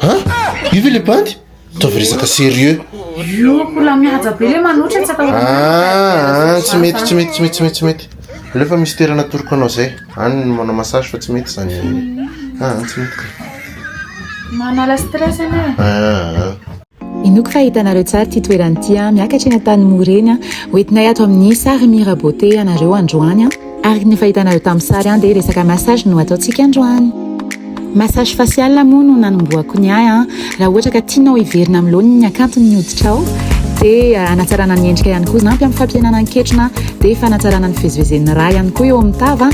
An! Io ve le bandy? Ataovy resaka serieux. Io mbola mihaja be le manoatra tsy atahorana. Ah, ah, tsy mety, tsy mety, tsy mety, tsy mety, tsy mety. Aleo fa misy toerana atoroko anao zay. Any ny manao massage fa tsy mety zany. Ah, ah tsy mety. Manala stress anie. Ah, ah. Inoako fa hitanareo tsara ity toerana ity, miakatra eny an-tany Moreny. Hoentinay ato amin'ny Sary Mirabeauté ianareo androany. Araka ny efa hitanareo tamin'ny sary an dia resaka massage no ataontsika androany. Massage facial moa no nanombohako ny ahy an. Raha ohatra ka tianao hiverina amin'ny laoniny ny hakanton' ny hoditrao dia hanatsarana ny endrika ihany koa. Ampy amin'ny fampihenana ny ketrona dia fanatsarana ny fivezivezen'ny rà ihany koa eo amin'ny tava,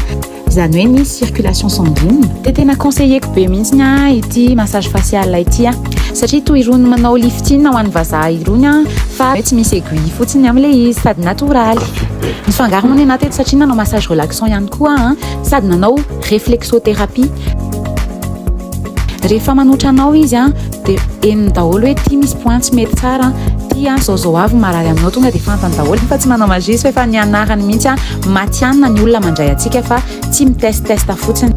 izany hoe ny circulation sanguine. Dia tena conseiller-ko be mihitsy ahy ity massage facial ity an. satria toy irony manao lifting ho an'ny vazaha irony an, fa hoe tsy misy aiguille fotsiny am ilay izy sady natoraly. Nisy fangaro moa ny anah teto satria nanao massage relaxant ihany koa aho an, sady nanao reflexothérapie. Rehefa manotra anao izy an, dia henony daholo hoe ity misy point tsy mety tsara an, ity an zao zao avy ny marary aminao tonga dia fantany daholo fa tsy manao magie izy fa efa nianarany mihitsy an, matihanina ny olona mandray antsika fa tsy mi test test fotsiny.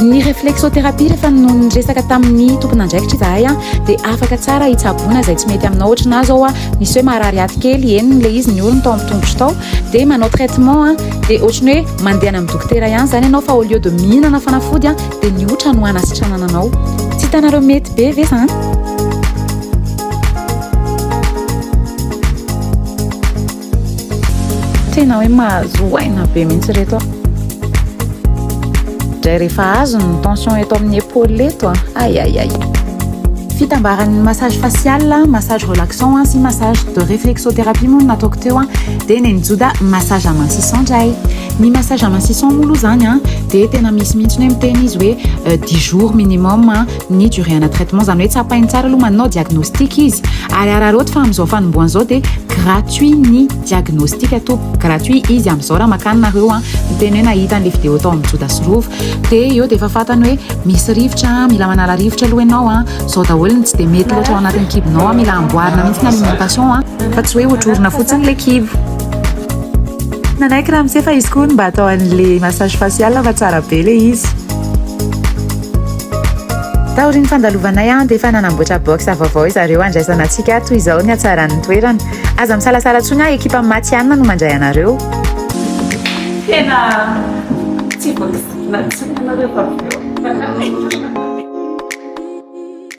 Ny réflexothérapie rehefa no niresaka tamin'ny tompon'andraikitra izahay a dia afaka tsara hitsaboana izay tsy mety aminao ohatry na zao a misy hoe maharary aty kely eny le izy ny orony tao amin'ny tongotro tao dia manao traitement a dia ohatry ny hoe mandehana amin'ny dokotera ihany izany ianao fa au lieu de mihinana fanafody a dia ny otra no hanasitranana anao tsy hitanareo mety be ve zany Tena hoe mahazo aina be mihitsy ireto aho. Dray rehefa azony ny tension eto amin'ny épaule eto a. Ah. Aïe aïe aïe. Fitambaran'ny massage facial, massage relaxant sy massage de réflexothérapie moa no nataoko teo a. Dia nenjoda massage amincissant dray. Ny massage amincissant moa aloha izany a dia tena misy mihitsy hoe miteny izy hoe dix jours minimum. ny durée ana traitement zany hoe tsapainy tsara aloha manao diagnostic izy ary araraoty fa amin'izao fanombohana izao dia gratuit ny diagnostic ato gratuit izy amin'izao raha makany nareo a miteny hoe nahita an'ilay vidéo tao amin'ny joda sy rova dia eo dia efa fantany hoe misy rivotra mila manala rivotra aloha ianao a zao daholo ny tsy dia mety loatra ao anatin'ny kibonao a mila amboarina mihitsy ny alimentation a fa tsy hoe hotrorina fotsiny ilay kibo nanaiky raha misefa izy koa ny mba atao an'ilay massage facial fa tsara be ilay izy Taorian'ny fandalovanay an, dia efa nanamboatra box vaovao izareo handraisana antsika toy izao ny hatsaran'ny toerana. Aza misalasala intsony an, ekipan'ny Matihanina no mandray anareo. Tena tsy voafidirina intsony ianareo tamin'ireo.